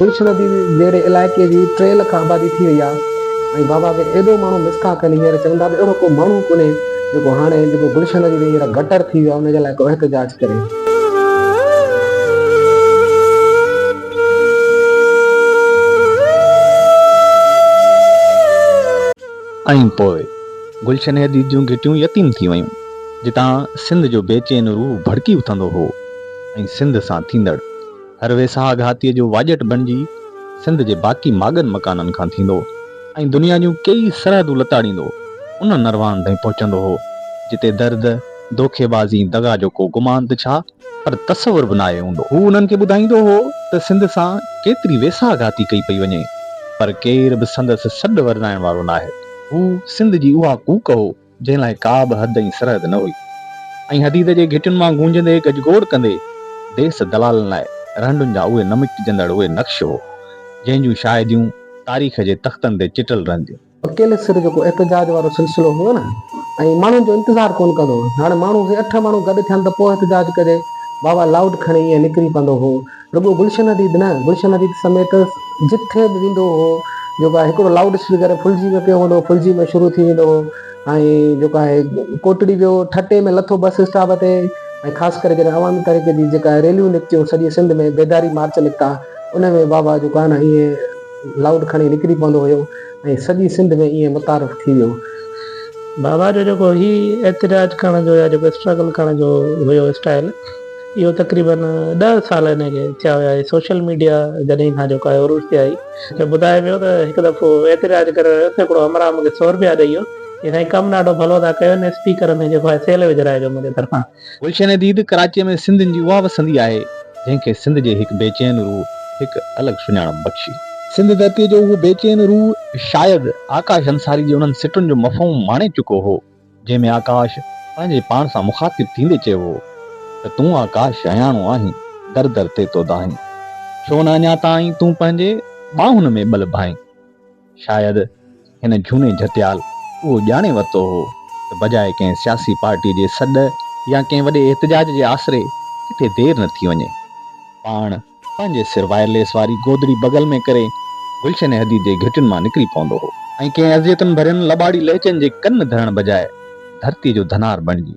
تلش ندي جهڙي علائقي جي ٽي لک آبادي ٿي وئي آهي ۽ بابا کي ايڏو ماڻهو مسڪا ڪن هينئر چون ٿا ته اهڙو ڪو ماڻهو ڪونهي جيڪو هاڻي جيڪو گلشن ندي تي هينئر گٽر ٿي ويو آهي ان جي لاء ڪو احتجاج ڪري. ائين پوء گلشن حديد جون گهٽيون يتيم ٿي ويون، جتان سنڌ جو بيچين روح ڀڙڪي اٿندو هو ۽ سنڌ سان ٿيندڙ هر ويساهه گهاتيء جو واڄٽ بڻجي سنڌ جي باقي ماڳن مڪانن کان ٿيندو ۽ دنيا جون ڪيئي سرحدون لتاڙيندو ان نروان تائين پهچندو هو، جتي درد، دوکيبازي، دغا جو ڪو گمان ته ڇا، پر تصور به ناهي هوندو. هو انهن کي ٻڌائيندو هو ته سنڌ سان ڪيتري ويساهه گهاتي ڪئي پئي وڃي، پر ڪير به سندس سڏ ورنائڻ وارو ناهي. هو سنڌ جي اها ڪوڪ هو، جنهن لاء ڪا به حد ۽ سرحد نه هئي ۽ حديد جي گهٽين مان گونجندي گجگوڙ ڪندي ديس دلالن لاء رهنڊن جا اهي نه مٽجندڙ اهي نقش هو، جنهن جون شاهديون تاريخ جي تختن تي چٽل رهنديون. اڪيلي سر جيڪو احتجاج وارو سلسلو هو نه ۽ ماڻهن جو انتظار ڪونه ڪندو هو هاڻي ماڻهو سي اٺ ماڻهو گڏ ٿين ته پوء احتجاج ڪجي بابا لائوڊ کڻي ائين نڪري پوندو هو رڳو گلشن اديد نه گلشن اديد سميت جٿي به ويندو هو جيڪو آهي هڪڙو لائوڊ اسپيڪر ڦلجي ۾ پيو هوندو هو ڦلجي ۾ شروع ٿي ويندو هو ۽ جيڪو آهي ڪوٽڙي ويو ٺٽي ۾ لٿو بس اسٽاپ تي ۽ خاص ڪري جڏهن عوامي تحريڪ جي جيڪا ريليون نڪتيون سڄي سنڌ ۾ بيداري مارچ نڪتا ان ۾ بابا جيڪو آهي نه ائين لاؤڊ کڻي نڪري پوندو هيو ۽ سڄي سنڌ ۾ ائين متعارف ٿي ويو. بابا جو جيڪو هي احتجاج ڪرڻ جو يا جيڪو اسٽرگل ڪرڻ جو هيو اسٽائيل اهو تقريبن ڏهه سال هن کي ٿيا هيا هي سوشل ميڊيا جڏهن کان جيڪو آهي عروج تي آئي. هي ٻڌائي پيو ته هڪ دفعو احتجاج ڪري رهيو هوس ته هڪڙو همراهه مون کي سؤ روپيا ڏئي ويو چيائين سائين ڪم ڏاڍو ڀلو ٿا ڪيو هن اسپيڪر ۾ جيڪو آهي سيل وجهرائجو منهنجي طرفان. گلشن ديد ڪراچيء ۾ سنڌين جي اها وسندي آهي، جنهن کي سنڌ جي هڪ بيچين روح هڪ الڳ سڃاڻپ بخشي. سنڌ ڌرتيء جو اهو بيچين روح شايد آڪاش انصاري جي انهن سٽن جو مفهوم ماڻي چڪو هو، جنهن ۾ آڪاش پنهنجي پاڻ سان مخاطب ٿيندي چيو هو ته تون آڪاش شياڻو آهين، در در تي تو دانهين، ڇو نه اڃا تائين تون پنهنجي ٻانهن ۾ ٻل ڀانئين. شايد هن جهوني جهتيال اهو ڄاڻي ورتو هو ته بجاء ڪنهن سياسي پارٽيء جي سڏ يا ڪنهن وڏي احتجاج جي آسري ڪٿي دير نه ٿي وڃي. پاڻ پنهنجي سر وائرليس واري گودڙي بغل ۾ ڪري گلشن حديد جي گهٽين مان نڪري پوندو هو ۽ ڪنهن اذيتن ڀرين لٻاڙي لهجن جي ڪن ڌرڻ بجاء ڌرتيء جو ڌنار بڻجي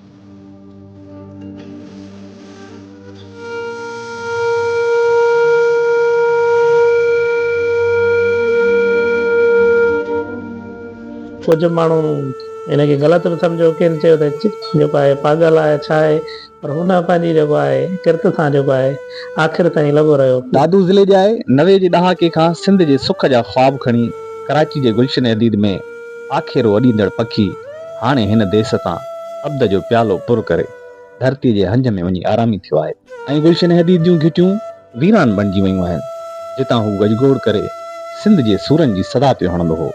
ڪجهه ماڻهو ان کي غلط به سمجهيو ڪين چيو ته جيڪو آهي پاڳل آهي ڇا آهي پر هن پنهنجي جيڪو آهي ڪرت سان جيڪو آهي آخر تائين لڳو رهيو. دادو ضلعي جي آهي. نوي جي ڏهاڪي کان سنڌ جي سک جا خواب کڻي ڪراچي جي گلشن عديد ۾ آکيرو اڏيندڙ پکي هاڻي هن ديس تان ابد جو پيالو پر ڪري ڌرتي جي هنج ۾ وڃي آرامي ٿيو آهي ۽ گلشن حديد جون گهٽيون ويران بڻجي ويون آهن جتان هو گجگوڙ ڪري سنڌ جي سورن جي صدا پيو هڻندو هو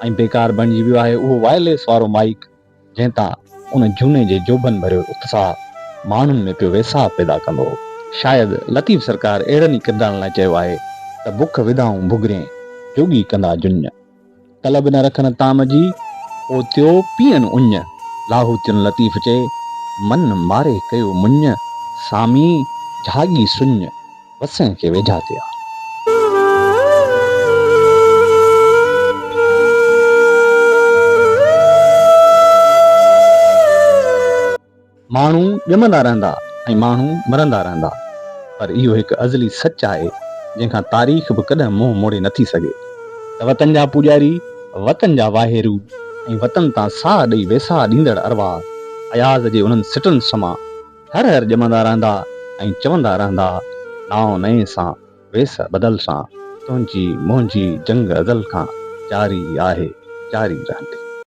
۽ بيڪار بڻجي ويو آهي اهو وائرليس وارو مائيڪ جنهن تان ان جهوني جي جوڀن ڀريو اتساهه ماڻهن ۾ پيو ويساهه پيدا ڪندو هو. شايد لطيف سرڪار اهڙن ئي ڪردارن لاء چيو آهي ته بک وڌائون ڀڳرين، جوڳي ڪندا جڃ. ڪل به نه رکن طعام جي، پوء ٿيو پيئن اڃ. لاهوتين لطيف چئي، من ماري ڪيو مڃ. سامي جهاڳي سڃ، وسين کي ويجها ٿئي آ. ماڻهو ڄمندا رهندا ۽ ماڻهو مرندا رهندا پر اهو هڪ ازلي سچ آهي جنهن کان تاريخ به ڪڏهن منهن موڙي نه ٿي سگهي ته وطن جا پوڄاري، وطن جا واهيرو ۽ وطن تان ساهه ڏئي ويساهه ڏيندڙ ارواح اياز جي انهن سٽن سمان هر هر ڄمندا رهندا ۽ چوندا رهندا، نائون نئين سان، ويس بدل سان، تنهنجي منهنجي جنگ ازل کان جاري آهي، جاري رهندي.